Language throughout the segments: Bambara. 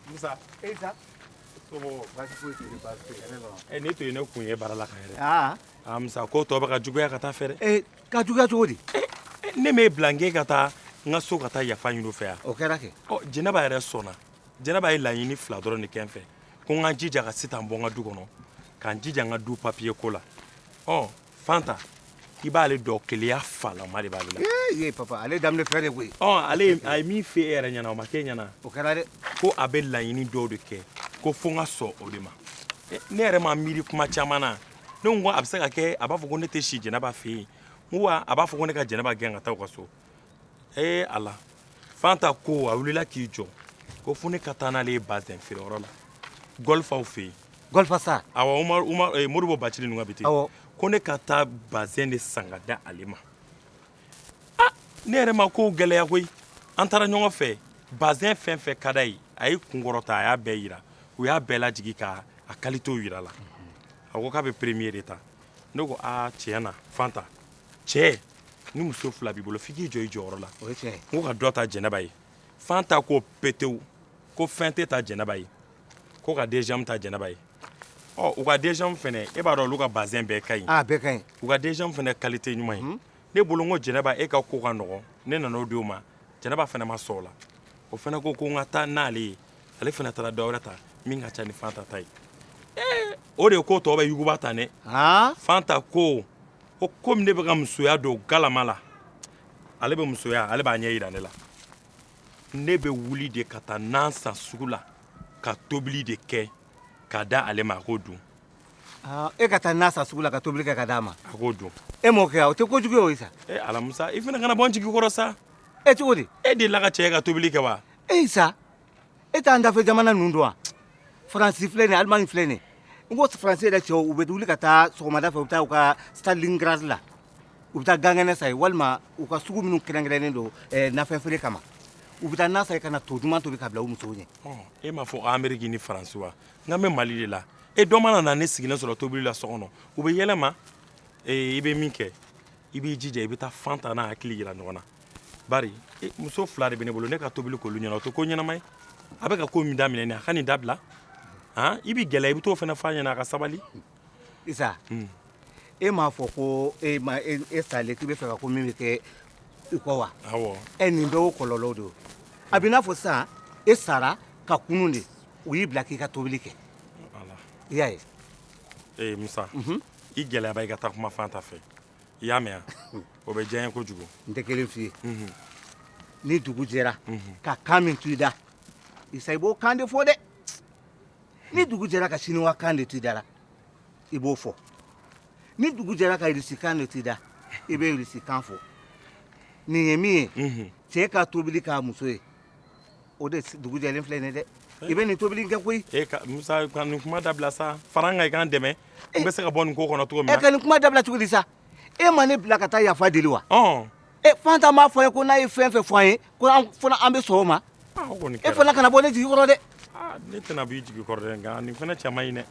Musa. Isa. So ko basi foyi tɛ yen basi tɛ ne kɔnɔ. Ɛ ne to yen ne kun ye baara la ka yɛrɛ. Aa. Aa Musa ko tɔ bɛ ka juguya ka taa a fɛ dɛ. Ee ka juguya cogo di. Ne m'e bila n k'e ka taa n ka so ka taa yafa ɲini u fɛ wa. O kɛra kɛ. Ɔ Jɛnɛba yɛrɛ sɔnna. jɛnɛba ye laɲini fila dɔrɔn de kɛ n fɛ ko n ka jija ka sitan bɔ n ka du kɔnɔ ka n jija n ka du papiye ko la ɔ fanta i b'ale dɔn keleya falama de b'ale la ye papa ale daminɛ fɛn de koyi ɔ ale a ye min f'e yɛrɛ ɲɛna o ma k'e ɲɛna o kɛra dɛ ko a bɛ laɲini dɔw de kɛ ko fo n ka sɔn o de ma ne yɛrɛ ma miiri kuma caman na ne ko a bɛ se ka kɛ a b'a fɔ ko ne tɛ si jɛnɛba fɛ yen n ko wa a b'a fɔ ko ne ka jɛnɛba gɛn ka taa u ka so ee ala fanta ko a wilila k'i jɔ ko fo ne ka taa n'ale ye bazɛn feere yɔrɔ la gɔlifaw fɛ yen gɔlifa sa awɔ umaru umaru ee modibo bacili ninnu ka bitiki awɔ ko ne ka taa bazɛn de san ka di ale ma ah ne yɛrɛ ma kow gɛlɛya koyi an taara ɲɔgɔn fɛ bazɛn fɛn fɛn ka d'a ye a y'i kunkɔrɔta a y'a bɛɛ jira u y'a bɛɛ lajigin ka a kalitew jira a la a ko k'a bɛ peremiye de ta ne ko aa tiɲɛ na fanta cɛ ni muso fila b'i bolo f'i k'i jɔ i jɔyɔrɔ la o ye tiɲɛ ye n ko ka dɔ ta jɛnɛba ye fanta ko petewu ko fɛn tɛ ta jɛnɛba ye ko ka deziyamu ta jɛnɛba ye ɔ u ka deziyamu fana e b'a dɔn olu ka bazɛn bɛɛ ka ɲi a bɛɛ ka ɲi u ka deziyamu fana kalite ɲuman ye ne bolo n ko jɛnɛba e ka ko ka nɔgɔn ne nana o di o ma jɛnɛba fana ma sɔn o la o fana ko ko n ka taa n'ale ye ale fana taara dɔ wɛrɛ ta min ka ca ni fanta ta ye ee o de ko tɔ bɛ yuguba tan dɛ fanta ko ko komi ne bɛ ka musoya don galama la ale bɛ musoya ale b'a ɲɛ jira ne la ne bɛ wuli de ka taa nan san sugu la ka tobili de kɛ k'a di ale ma a k'o dun e ka taa nan san sugu la ka tobili kɛ k'a d'a ma a k'o dun e m'o kɛ wa o tɛ ko jugu ye o isa ee ala musa i fana kana bɔ n jigi kɔrɔ sa e cogo di e delila ka cɛ ye ka tobili kɛ wa ee isa e t'an dafɛ jamana ninnu dɔn wa faransi filɛ nin ye alimani filɛ nin ye n ko faransi yɛrɛ cɛw u bɛ wuli ka taa sɔgɔmada fɛ u bɛ taa u ka stalingrad la u bɛ taa gan kɛnɛ san yen walima u ka sugu minnu kɛrɛnkɛrɛnnen don eh, nafɛn feere kama u bɛ taa na san yen ka na to duman tobi ka bila u musow ɲɛ e m'a fɔ ko ameriki ni faransi wa nka n bɛ mali de la e dɔ mana na ne sigilen sɔrɔ tobili la so kɔnɔ u bɛ yɛlɛ n ma ee, i bɛ min kɛ i b'i jija i bɛ taa fanta n'a hakili yira ɲɔgɔn na bari muso fila de bɛ ne bolo ne ka tobili k'olu ɲɛna o tɛ ko ɲɛnama ye a bɛ ka ko min daminɛ nin a ka nin dabila han i b'i gɛlɛya i bɛ t'o fana f'a ɲɛna a ka sabali isa hmm. e m'a fɔ ko e ma e, e salen k'i b'a fɛ ka ko min bɛ kɛ i kɔ wa awɔ ɛ nin bɛɛ o kɔlɔlɔw de a b'i n'a fɔ sisan e sara ka kunun de u y'i bila k'i ka tobili kɛ i y'a ye ee musa mhm. i gɛlɛya ba i ka taa kuma fanta fɛ i y'a mɛn o bɛ diya n ye kojugu n tɛ kelen f'i ye ni dugu jɛra ka kan min to i da isa i b'o kan de fɔ dɛ ni dugu jɛra ka siniwa kan de to i da la i b'o fɔ ni dugu jɛra ka irisi kan de to i da i bɛ irisi kan fɔ nin ye min ye cɛ ka tobili k'a muso ye o de dugu jɛlen filɛ nin dɛ i bɛ nin tobili kɛ koyi e ka musa ka nin kuma dabila sa fara n kan i ka n dɛmɛ n bɛ se ka bɔ nin ko kɔnɔ cogo min na ne ka nin kuma dabila cogo di sa e ma ne bila ka taa yafa deli wa e fanta m'a fɔ n ye ko n'a ye fɛn fɛn fɔ an ye ko an fana an bɛ sɔn o ma e fana kana bɔ ne jigi kɔrɔ dɛ ne tɛna b'i jigi kɔrɔ dɛ nka nin fana cɛ man ɲi dɛ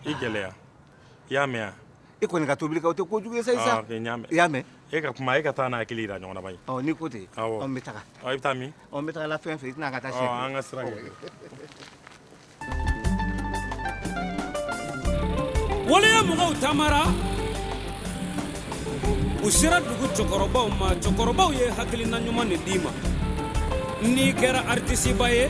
i gɛlɛya i y'a mɛn wa, e kɔni ka tobili kɛ o tɛ ko jugu ye sa, aa ok n y'a mɛn, i y'a mɛn, e ka kuma e ka taa n'a hakili jira ɲɔgɔn na bani, ɔ n'i ko ten, awɔ, ɔ n bɛ taga, ɔ i bɛ taa min, ɔ n bɛ taa la fɛn fɛ i tɛna ka taa siɲɛ kelen, ɔ an ka sira kɛ ten. Waleya mɔgɔw taamara u sera dugu cɛkɔrɔbaw ma cɛkɔrɔbaw ye hakilina ɲuman de d'i ma n'i kɛra aritisiba ye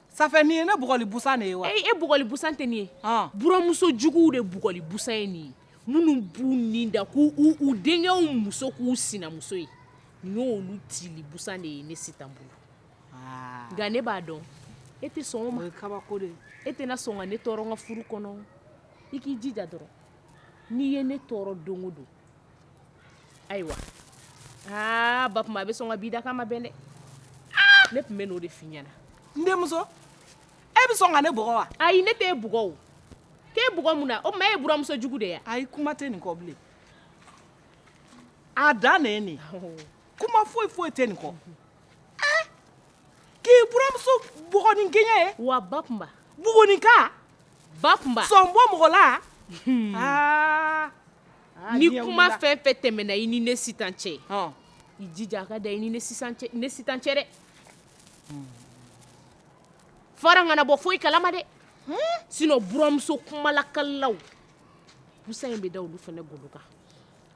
Sanfɛ nin ye ne bugɔli busan de ye wa? Ayi e bugɔli busan tɛ nin ye, ɔn, buranmuso juguw de bugɔli busan ye nin ye, minnu b'u ni da k'u u denkɛw muso k'u sinamuso ye, nin y'olu tili busan de ye ne Sitan bolo, aa, nka ne b'a dɔn e tɛ sɔn o ma, o ye kabako de ye, e tɛna sɔn ka ne tɔɔrɔ n ka furu kɔnɔ, i k'i jija dɔrɔn, n'i ye ne tɔɔrɔ don o don Ayiwa aa ba a bɛ sɔn ka bi da kama ma bɛn dɛ ne tun bɛna o de f'i ɲɛna n denmuso e bɛ sɔn ka ne bugɔ wa ayi ne tɛ e bugɔ e tɛ bugɔ mun na o ma e ye buranmuso jugu de ye ayi kuma tɛ nin kɔ bilen a dan ne nin kuma foyi foyi tɛ nin kɔ k'i buranmuso bugɔ n'i ɲɛ ye wa ba kunba bugɔ nin ka ba kunba sonbon mɔgɔ la Ni kuma fɛn fɛn tɛmɛna i ni ne sitan cɛ i jija a ka dan i ni ne sitan cɛ dɛ fa kana bɔ foyi kalama dɛ sinɔn buranmuso kumalakalaw busan in bɛ da olu fana golo kan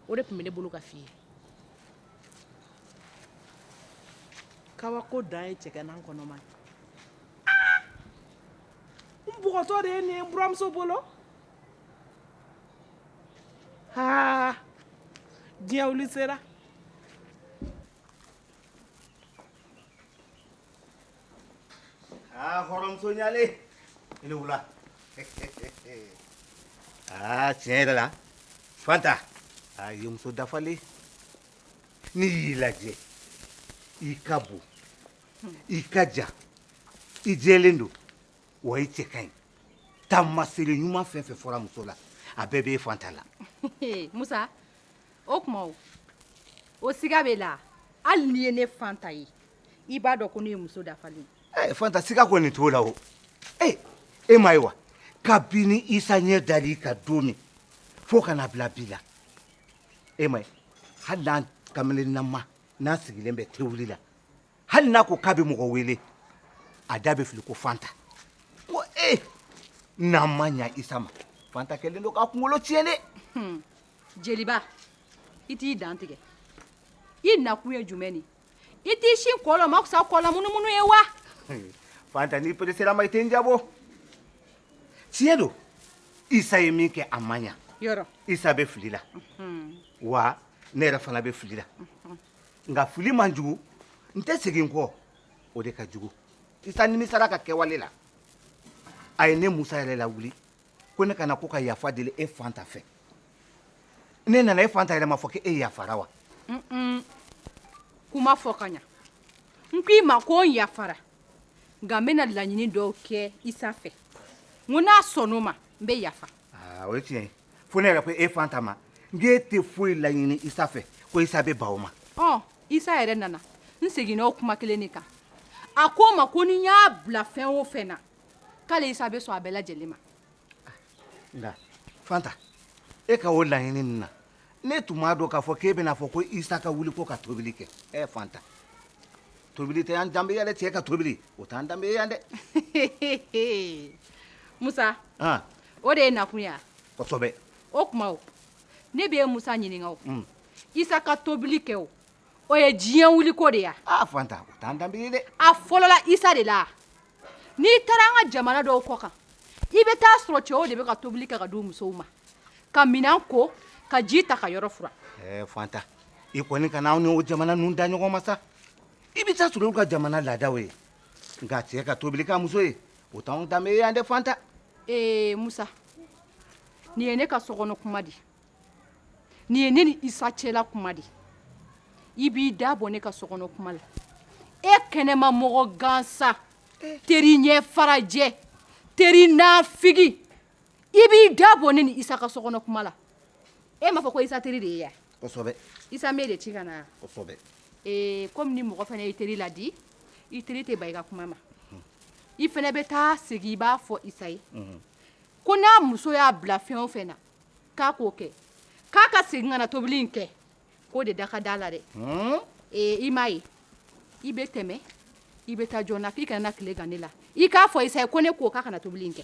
o de tun bɛ ne bolo ka fɔ i ye kabako ko dan ye cɛ n kɔnɔ ma npogotɔ de ye buranmuso bolo diɲɛ sera hɔrɔnmuso ɲalen i ni wula aa tiɲɛ yɛrɛ la fanta a ye muso dafalen n'i y'i lajɛ i ka bon i ka jan i jɛlen don wa i cɛ ka ɲi taamaseere ɲuman fɛn fɛn fɔra muso la a bɛɛ bɛ e fanta la musa o tuma o siga b'e la hali n'i ye ne fanta ye i b'a dɔn ko ne ye muso dafalen ye fanta siga kɔni t'o la o ee e m'a ye wa kabini isa ɲɛ dal'i kan don min fo ka na bila bi la e m'a ye hali n'an kamelennama n'an sigilen bɛ tewuli la hali n'a ko k'a bɛ mɔgɔ wele a da bɛ fili ko fanta ko ee eh, n'an ma ɲa isa ma fanta kɛlen don k'a kunkolo tiɲɛ dɛ hmm. jeliba i t'i dantigɛ i nakun ye jumɛn ye i t'i sin kɔlɔ ma fisa kɔlɔ munumunu ye wa hmm. fanta n'i peresera ma i tɛ n jabɔ tiɲɛ don isa ye min kɛ a ma ɲa yɔrɔ isa bɛ fili la hmm. wa ne yɛrɛ fana bɛ fili la nka fili man jugu n tɛ segin kɔ o de ka jugu isa nimisara a ka kɛwale la a ye ne musa yɛrɛ lawuli ko ne ka na ko ka yafa deli e fanta fɛ ne nana e fanta yɛrɛ m'a fɔ ko e yafara wa kuma fɔ ka ɲa n ko i ma ko n yafara nka n bɛna laɲini dɔw kɛ isa fɛ n ko n'a sɔnn'o ma n bɛ yafa o ye tiɲɛ ye fo ne yɛrɛ ko e fanta ma n k'e tɛ foyi laɲini isa fɛ ko isa bɛ ban o ma ɔ isa yɛrɛ nana n seginna o kuma kelen de kan a ko n ma ko ni n y'a bila fɛn o fɛn na k'ale isa bɛ sɔn a bɛɛ lajɛlen ma nka fanta e ka o laɲini ninnu na ne tun b'a dɔn k'a fɔ k'e bɛna fɔ ko isa ka wuli ko ka tobili kɛ ɛ fanta tobili tɛ an danbe ye dɛ cɛ ka tobili o t'an danbe ye yan dɛ musa o de y'i nakun ye kosɛbɛ o tuma ne bɛ e musa ɲininka o mm. isa ka tobili kɛ o o ye diɲɛ wuliko de ye wa fanta o t'an danbe ye dɛ a fɔlɔla isa de la n'i taara an ka jamana dɔw kɔkan i bɛ taa sɔrɔ cɛw de bɛ ka tobili kɛ k'a di musow ma ka minɛn ko ka ji ta ka yɔrɔ furan ɛɛ fanta i kɔni kana anw ni o jamana ninnu da ɲɔgɔn ma sa i bɛ taa sɔrɔ olu ka jamana laadaw ye nka cɛ ka tobili k'a muso ye o t'anw danbe ye yan dɛ fanta ee musa nin ye ne ka sokɔnɔ kuma de ye nin ye ne ni isa cɛla kuma de ye i b'i da bɔ ne ka sokɔnɔ kuma la e kɛnɛmamɔgɔ gansan teri ɲɛ farajɛ teri naafigi i b'i da bɔ ne ni isa ka sokɔnɔ kuma la e m'a fɔ ko isa teri de ye yan kosɛbɛ isa bɛ de ci ka na kosɛbɛ ee kɔmi ni mɔgɔ fana i teri laadi i teri tɛ ban i ka kuma ma i fana bɛ taa segin i b'a fɔ isa ye ko n'a muso y'a bila fɛn o fɛn na k'a k'o kɛ k'a ka segin ka na tobili in kɛ k'o de da ka da la dɛ ee i m'a ye i bɛ tɛmɛ i bɛ taa joona k'i kana tile gan ne la i k'a fɔ isa ye ko ne ko k'a ka na tobili in kɛ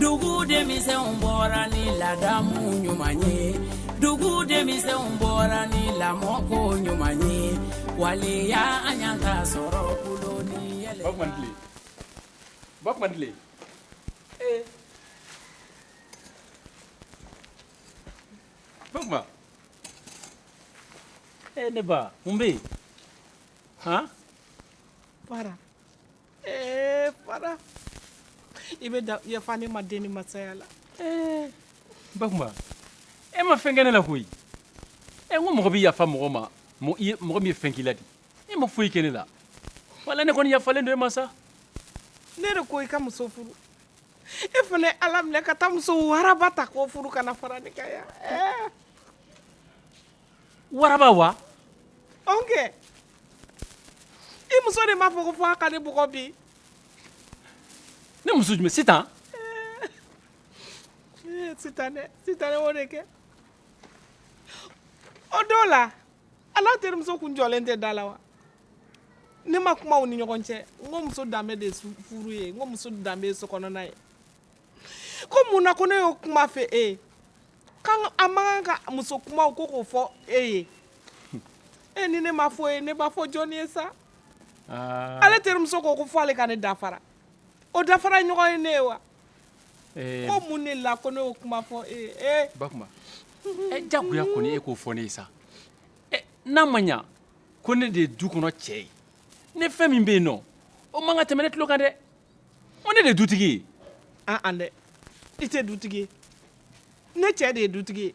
dugu denmisɛnw bɔra ni ladamu ɲuman ye dugu denmisɛnw bɔra ni lamɔko ɲuman ye waleya an y'an ka sɔrɔ bolo ni yɛlɛ. bakuma i ni tile bakuma i ni tile ee eh. bakuma ee eh, ne ba mun bɛ yen han. fara. Ee fara i b'a yafa ne ma den ni masaya la bakuma e ma fɛn kɛ ne la koyi e ko mɔgɔ bɛ yafa mɔgɔ ma mɔgɔ min ye fɛn k'i la di e ma foyi kɛ ne la wala ne kɔni yafalen don e ma sa ne de ko i ka muso furu e fana y'a laminɛ ka taa muso waraba ta k'o furu ka na fara ne kan yan waraba wa awɔ kɛ i muso de m'a fɔ ko fo a ka ne bugɔ bi ne muso jumɛn sitan eh, sitan dɛ sitan o de kɛ o don la ale terimuso kun jɔlen tɛ da la wa ne ma kuma u ni ɲɔgɔn cɛ n ko muso danbe de furu ye n ko muso danbe ye sokɔnɔna ye ko mun na ko ne y'o kuma fɔ e ye k'an ka an man kan ka muso kumaw ko k'o fɔ e ye e ni ne m'a fɔ e ye ne b'a fɔ jɔni ye sa aa ale terimuso ko ko fo ale ka ne dafara o dafara ɲɔgɔn ye ne ye wa ɛɛ ko mun de la ko ne y'o kuma fɔ e ye ee bakuma ɛ jagoya kɔni e k'o fɔ ne ye sa ɛ n'a ma ɲa ko ne de ye du kɔnɔ cɛ ye ne fɛn min bɛ yen nɔ o man kan tɛmɛ ne tulo kan dɛ ko ne de dutigi ye an an dɛ i tɛ dutigi ye ne cɛ de ye dutigi ye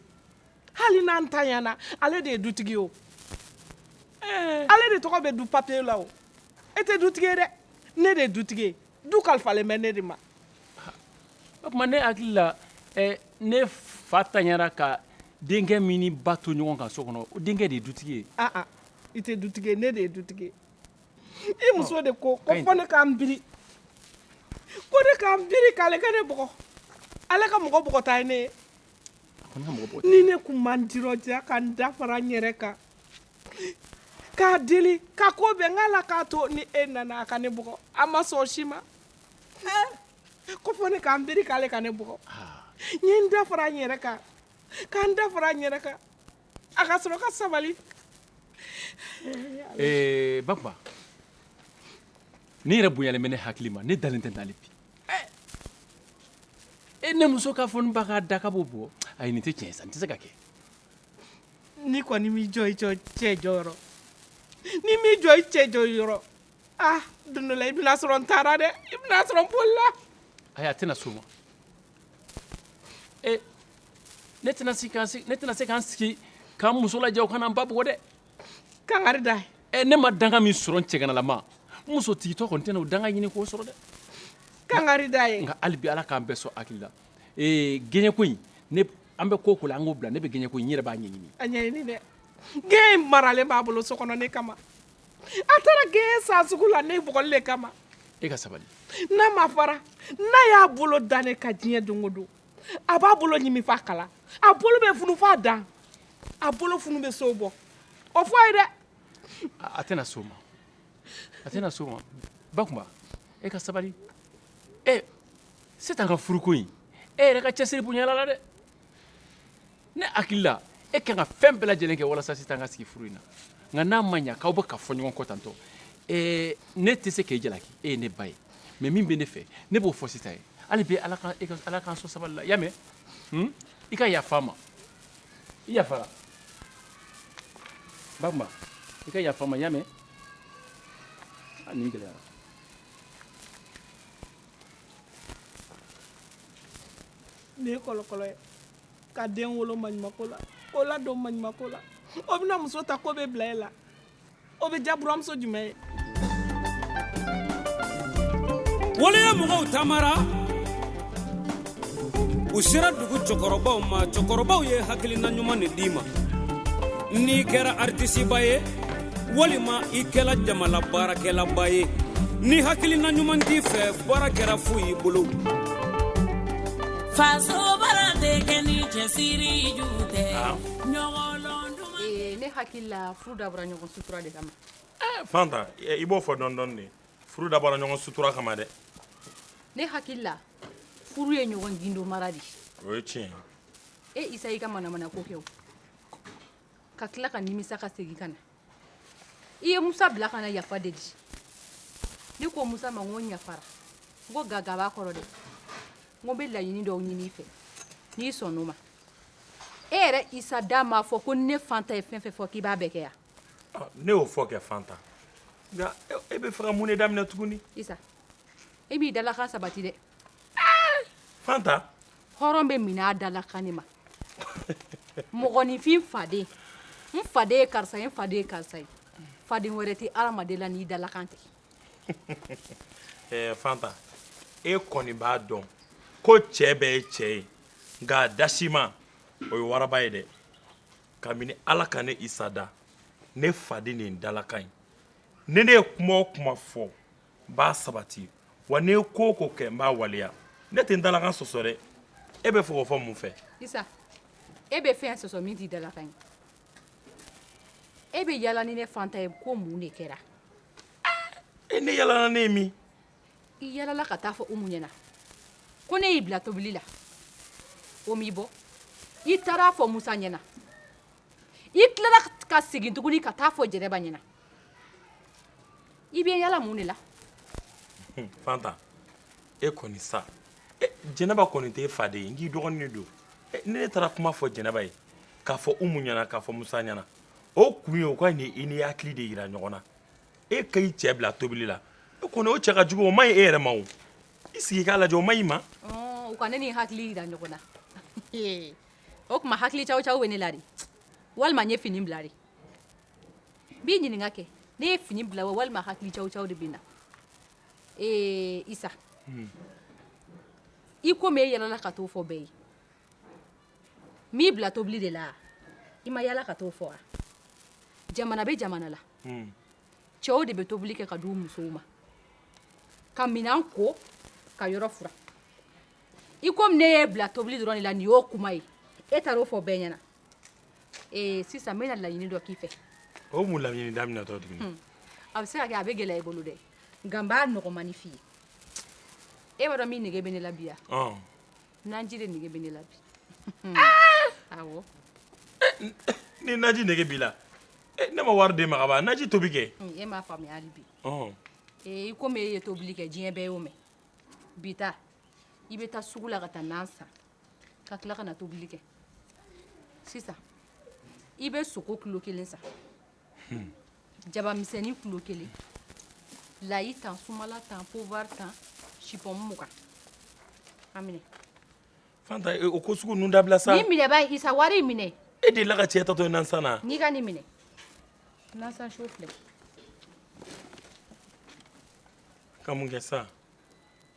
hali n'a tanyana ale de ye dutigi ye o eh. ale de tɔgɔ bɛ du papiye la o e tɛ dutigi ye dɛ ne de ye dutigi ye du kalifalen bɛ ne de ma bakuma ne hakili la eh, ne fa tanyara ka denkɛ min ni ba to ɲɔgɔn kan so kɔnɔ o denkɛ de ye dutigi ye aa ah, ah. i tɛ dutigi ye ne de ye dutigi ye i muso de ko ko fo ne ka n biri ko ne ka n biri k'ale ka ne bugɔ ale ka mɔgɔ bugɔta ye ne ye ni ne tun ma n dirɔja ka n da fara n yɛrɛ kan k'a deli ka ko bɛn k'a la k'a to ni e nana a ka ne bugɔ a ma sɔn si ma ko fo ne ka n biri k'ale ka ne bugɔ n ye n da fara n yɛrɛ kan ka n da fara n yɛrɛ kan A ka sɔrɔ ka sabali bakuma n yɛrɛ bonya bɛ ne hakili ma ne dalen tɛ dalen bi e ne muso k'a fɔ n ba ka da k'a bugɔ ayi nin tɛ cɛ san tɛ se ka kɛ n'i kɔni m'i jɔ i cɛ jɔyɔrɔ n'i m'i jɔ i cɛ jɔyɔrɔ don dɔ la i bɛna sɔrɔ n taara dɛ i bɛna sɔrɔ n bolila ayi a tɛna s'o ma ne tɛna se ka n sigi ka n muso lajɛ o ka na n ba bugɔ dɛ kangari d'a ye ne ma danga min sɔrɔ n cɛganalama n musotigitɔ kɔni tɛna o danga ɲini k'o sɔrɔ dɛ kangari d'a ye nka hali bi ala k'an bɛɛ sɔn hakili la ee gɛɲɛko in ne an bɛ ko o ko la an k'o bila ne bɛ gɛɲɛko in n yɛrɛ b'a ɲɛɲini a ɲɛɲini dɛ gɛɲɛ in maralen b'a bolo so kɔnɔ ne kama A taara gɛɲɛ san sugu la ne bugɔli kama e ka sabali n'a ma fara n'a y'a bolo da ne kan diɲɛ don o don a b'a bolo ɲininfa kala a bolo bɛ funu fo a dan a bolo funu bɛ so bɔ o fɔ a ye dɛ a tɛna s'o ma a tɛna s'o ma bakuma e ka sabali ɛ sitan ka furuko in e yɛrɛ ka cɛsiri bonyana a la dɛ ne hakili la e ka kan ka fɛn bɛɛ lajɛlen kɛ walasa sitan ka sigi furu in na nka n'a ma ɲɛ k'aw bɛ ka fɔ ɲɔgɔn kɔ tantɔ ɛɛ ne tɛ se k'e jalaki e ye ne ba ye mɛ min bɛ ne fɛ ne b'o fɔ sitan ye hali bi ala ka e ka ala k'an sɔn sabali la i y'a mɛn hun i ka yafa ma i yafara bakuma i ka yafa ma i y'a mɛn a nin gɛlɛyara nin ye kɔlɔkɔlɔ ye ka den wolo maɲumako la k'o ladon maɲumako la o bɛna muso ta k'o bɛ bila e la o bɛ ja buranmuso jumɛn ye wale ye mɔgɔw taamara u sera dugu cɛkɔrɔbaw ma cɛkɔrɔbaw ye hakilina ɲuman de d'i ma n'i kɛra aritisiba ye walima i kɛra jamana baarakɛlaba ye ni hakilina ɲuman t'i fɛ baara kɛra fu y'i bolo ne hakili la furu dabɔra ɲɔgɔn sutura de kama eh, fanta eh, i b'o fɔ dɔɔni dɔɔni de furu dabɔra ɲɔgɔn sutura kama dɛ ne hakili la furu ye ɲɔgɔn gindo mara de o ye tiɲɛ ye isa y'i ka manamanako kɛ o ka tila ka nimisa ka segin ka na i ye musa bila ka na yafa deli ne ko musa ma n ko n yafara n ko nka nka b'a kɔrɔ dɛ n ko n bɛ laɲini dɔw ɲini i fɛ n'i sɔnn'o ma e yɛrɛ isa da m'a fɔ ko ni ne fanta ye fɛn o fɛn fɔ k'i b'a bɛɛ kɛ wa ɔ ne y'o fɔ kɛ fanta nka e bɛ fɛ ka mun de daminɛ tugunni isa e m'i dalakan sabati dɛ Hɔrɔn bɛ minɛ a dalakan ma mɔgɔninfin faden n faden ye karisa ye n faden ye karisa ye faden wɛrɛ tɛ adamaden la n'i dalakan tɛ fanta e kɔni b'a dɔn ko cɛ bɛɛ ye cɛ ye nka dasima o ye waraba ye dɛ kabini ala ka ne isa da ne faden ye n dalakan ye ni ne ye kuma o kuma fɔ n b'a sabati wa ni n ye ko o ko kɛ n b'a waleya ne tɛ n dalakan sɔsɔ dɛ e bɛ fɛ k'o fɔ mun fɛ isa e bɛ fɛn sɔsɔ min t'i dalakan ye e bɛ yala ni ne fanta ye ko mun de kɛra e ne yalala n'e ye min i yalala ka taa fɔ umu ɲɛna ko ne y'i bila tobili la o m'i bɔ i taara a fɔ musa ɲɛna i tilala ka segin tuguni ka taa a fɔ jɛnɛba ɲɛna i bɛ yala mun de la hun fanta e kɔni sa e jɛnɛba kɔni t'e faden ye n k'i dɔgɔnin de don e ni ne taara kuma fɔ jɛnɛba ye k'a fɔ umu ɲɛna k'a fɔ musa ɲɛna o kun ye u ka na i n'i hakili de jira ɲɔgɔn na e ka i cɛ bila tobili la o kɔni o cɛ ka jugu o man ɲi e yɛrɛ ma o i sigi i k'a lajɛ o man ɲi ma ɔɔ u ka ne ni n hakili jira ɲɔgɔn na ee o tuma hakili cawucawu bɛ ne la de walima n ye fini bila de B'i ɲininka kɛ ne ye fini bila wa walima hakili cawucawu de bɛ n na ee isa i komi e yalala ka t'o fɔ bɛɛ ye n y'i bila tobili de la i ma yala ka t'o fɔ jamana bɛ jamana la cɛw de bɛ tobili kɛ k'a d'u musow ma ka minɛn ko ka yɔrɔ furan i komi ne y'e bila tobili dɔrɔn la nin y'o kuma ye e taara o fɔ bɛɛ ɲɛna ee sisan n bɛna laɲini dɔ k'i fɛ o mun laɲini daminɛtɔ tuguni a bɛ se ka kɛ a bɛ gɛlɛya i bolo dɛ nka n b'a nɔgɔmani f'i ye e b'a dɔn min nege bɛ ne la bi yan ɔn naji de nege bɛ ne la bi awɔ ni naji nege b'i la eh, ne ma wari d'e ma kaban naji tobi kɛ Hmm, e m'a faamuya hali bi ɔn ee i komi e ye tobili kɛ diɲɛ bɛɛ y'o mɛn bi ta i bɛ taa sugu la ka taa nan san ka tila ka na tobili kɛ sisan i bɛ sogo kilo kelen san jabamisɛnnin kilo kelen layi tan sumala tan poivre tan supɔmu mugan a minɛ fanta o ko sugu ninnu dabila sa nin minɛ bani isa wari in minɛ e delila ka cɛ taatɔ nasan na wa n'i ka nin minɛ nansan so filɛ ka mun kɛ sa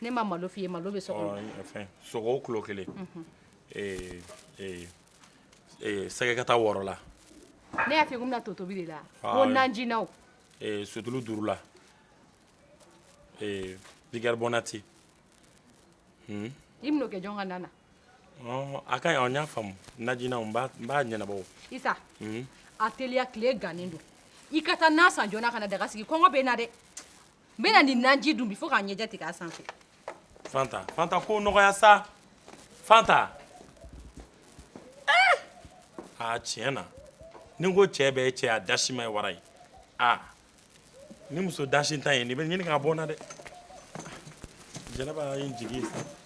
Ne ma malo f' i ye malo bɛ so sogo kilo kelen sɛgɛ ka taa wɔɔrɔ la ne y'a bɛna to tobili la ko najiina sutulu duurula bɔnnati i bɛn'o kɛ jɔn ka na na a ka ɲi n y'a faamu najiina n b'a ɲɛnabɔ isa a teliya tile gannen don i ka taa na san joona ka na daga sigi kɔngɔ bɛ n na dɛ n bɛna nin naji dun bi fo k'a ɲɛjɛ tigɛ a sanfɛ fanta fanta ko nɔgɔya sa fanta eh! aa tiɲɛ na ni n ko cɛ bɛɛ ye cɛ a dasima ye wara ye aa nin muso dasintan ye n ni ɲini k'a bɔ n na dɛ jɛnɛba ye n jigi ye sa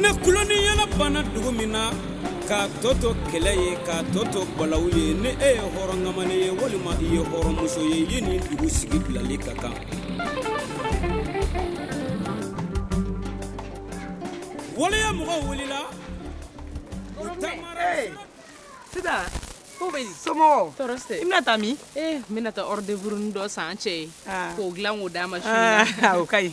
ne kulonin yɛlɛ banna dugu min na k'a tɔ to kɛlɛ ye k'a tɔ to balawu ye ni e ye hɔrɔn kamalen ye walima i ye hɔrɔnmuso ye ye nin dugu sigi bilali ka kan waleya mɔgɔ wulila ko bɛ somɔgɔw tɔɔrɔ tɛ i bɛna taa min ee n bɛna taa ɔrɔdeburunin dɔ san cɛ ye k'o dilan k'o d'a ma su o ka ɲi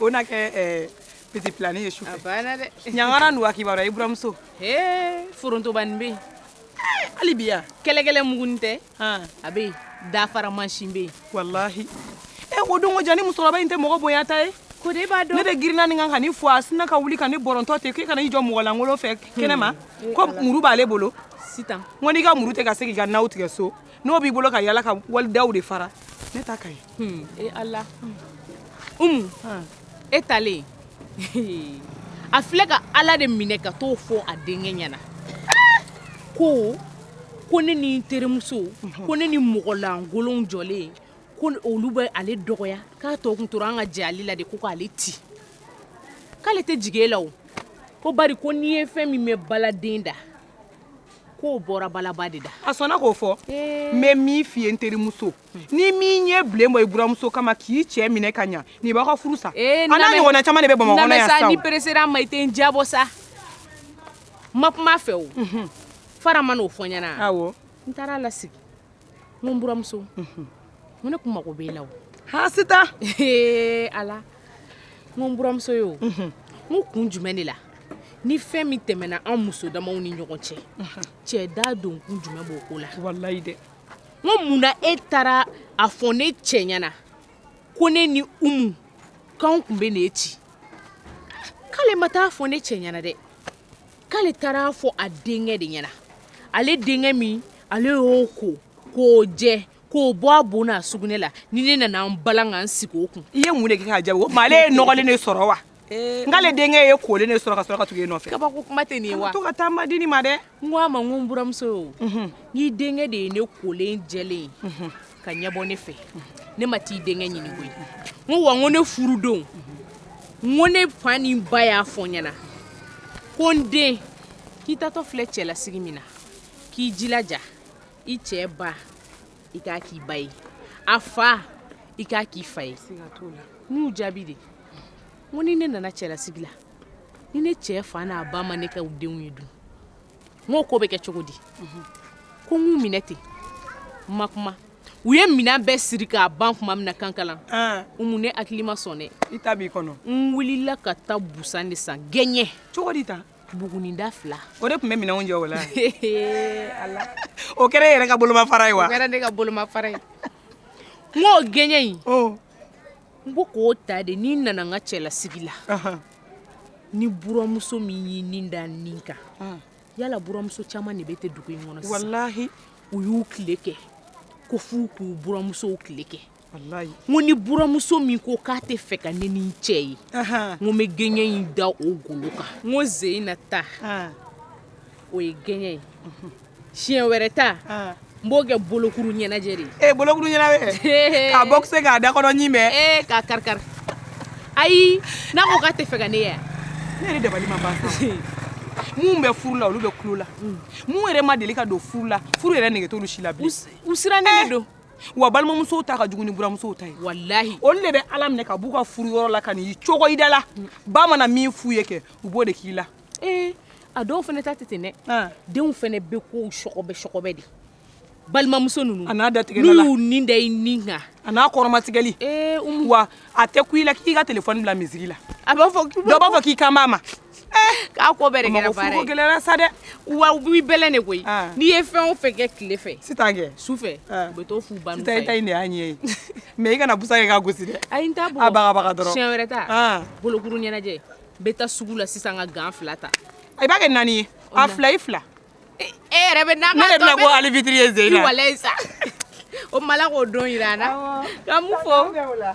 o na kɛ piti pilanin ye su a banna dɛ ɲangara n'u kibaruya i buranmuso ee forontobanin bɛ yen hali bi yan kɛlɛkɛlɛ mugunin tɛ a bɛ yen dafara mansin bɛ yen walahi e b'o dɔn ko jaa nin musokɔrɔba in tɛ mɔgɔ bonyata ye ko de b'a dɔn ne de girinna nin kan ka nin fo a sinna ka wuli ka ne bɔrɔntɔ ten k'e kana i jɔ mɔgɔ lankolon fɛ kɛnɛ ma hmm. ko muru b'ale bolo sitan n ko n'i ka muru tɛ ka se k'i ka naw tigɛ so n'o b'i bolo ka yaala ka wali daw de fara ne ta ka ɲi hmm. e ala umu e taalen a filɛ ka ala de minɛ ka t'o fɔ a denkɛ ɲɛna ko ko ne ni n terimuso ko ne ni mɔgɔlankolon jɔlen ko olu bɛ ale dɔgɔya k'a tɔ kun tora an ka jɛ ale la de ko k'ale ti k'ale tɛ jigin e la o ko bari ko n'i ye fɛn min mɛn baladen da k'o bɔra balaba de da a sɔnna k'o fɔ n bɛ min f'i ye n terimuso ni min ye bilen bɔ i buramuso kama k'i cɛ minɛ ka ɲa nin b'aw ka furu sa eh, a n'a ɲɔgɔnna caman de bɛ bamakɔ kɔnɔ yan sa n'i peresera ma i tɛ n jabɔ sa ma kuma fɛ o mhm. fara ma n'o fɔ ɲɛna awɔ n taara lasigi n ko n buramuso n mhm. ko ne kun mago b'e la o hasita eh, ala n ko n buramuso ye o mhm. n ko kun jumɛn de la ni fɛn min tɛmɛna an muso damaw ni ɲɔgɔn cɛ cɛ da don kun jumɛn b'o ko la walayi dɛ Ko munna e taara a fɔ ne cɛ ɲɛna ko ne ni umu k'an tun bɛ ne ci k'ale ma taa a fɔ ne cɛ ɲɛna dɛ k'ale taara a fɔ a denkɛ de ɲɛna ale denkɛ min ale y'o ko k'o jɛ k'o bɔ a bo n'a sugunɛ la ni ne nana n bala ka n sigi o kun i ye mun de kɛ k'a ja o ma ale ye nɔgɔlen de sɔrɔ wa k'ale denkɛ y'e kolen de sɔrɔ ka sɔrɔ ka tugu e nɔfɛ kabako kuma tɛ nin ye wa to ka taa ma di nin ma dɛ n ko a ma n ko n buramuso ye o mhm. n'i denkɛ de ye ne kolen jɛlen mhm. ka ɲɛbɔ ne fɛ ne ma t'i denkɛ ɲini koyi n ko wa n ko ne furudon n ko ne fa ni n ba y'a fɔ n ɲɛna ko n den k'i tatɔ filɛ cɛlasigi min na k'i jilaja i cɛ ba i k'a k'i ba ye a fa i k'a k'i fa ye n'u jaabi de ko ni ne nana cɛlasigi la ni ne cɛ fa n'a ba ma ne kɛ u denw ye dun o ko bɛ kɛ cogo di ko n k'u minɛ ten n ma kuma u ye minɛn bɛɛ siri k'a ban tuma min na kankalan ah. umu ne hakili ma sɔn dɛ i ta b'i kɔnɔ n wulila ka taa busan de san gɛɲɛ cogo di tan buguninda fila o de tun bɛ minɛnw jɔ o la o kɛra i yɛrɛ ka bolomafara ye wa kɛra ne ka bolomafara ye n k'o gɛɲɛ in n ko k'o ta de ni n nana n ka cɛlasigi la ni buramuso min y'i nin da n nin kan yala buramuso caman de bɛ ten dugu in kɔnɔ sisan walahi u y'u tile kɛ ko f'u k'u buramusow tile kɛ Ko ni buramuso min ko k'a tɛ fɛ ka ne ni cɛ ye n bɛ gɛɲɛ in da o golo kan n ko sen in na ta o ye gɛɲɛ ye siɲɛ wɛrɛ ta n b'o kɛ bolokuru ɲɛnajɛ de e bolokuru ɲɛna a bɔ se k'a da kɔnɔ bɛɛ k'a kari kari ayi n'a ko k'a tɛ fɛ ka ne ye ne yɛrɛ dabali ma ban minnu bɛ furu la olu bɛ kulo la minnu yɛrɛ ma deli ka don furu la furu yɛrɛ nɛgɛ t'u si la u sirannen don wa balimamusow ta ka jugu ni buramuso ta ye walahi olu de b'a lamɛn ka b'u ka furu yɔrɔ la ka n'i cogo i da la ba mana min f'u ye kɛ u b'o de k'i la ee eh, a dɔw fana ta tɛ ten dɛ denw fana bɛ kosɛbɛ kosɛbɛ dɛ balimamuso ninnu a n'a datigɛ la n'u y'u nin da i nin kan a n'a kɔrɔmatigɛli ee eh, umu wa a tɛ kun i la k'i ka telefɔni bila miziki la a b'a fɔ dɔ b'a fɔ k'i kan b'a ma Aw ko bɛ gɛlɛ sa dɛ wa bɛ de koyi n'i ye fɛn o fɛn kɛ tile fɛ su fɛ u to fo ban de y'a ɲɛ ye mɛ i kana busa ka gosi dɛ a wɛrɛ ta bolokokuru ɲɛnajɛ bɛ taa sugu la sisan ka gan fila ta i b'a kɛ naani ye a fila i fila e yɛrɛ bɛ bɔ fitiri ye z sa o ma k'o don jira a na fɔ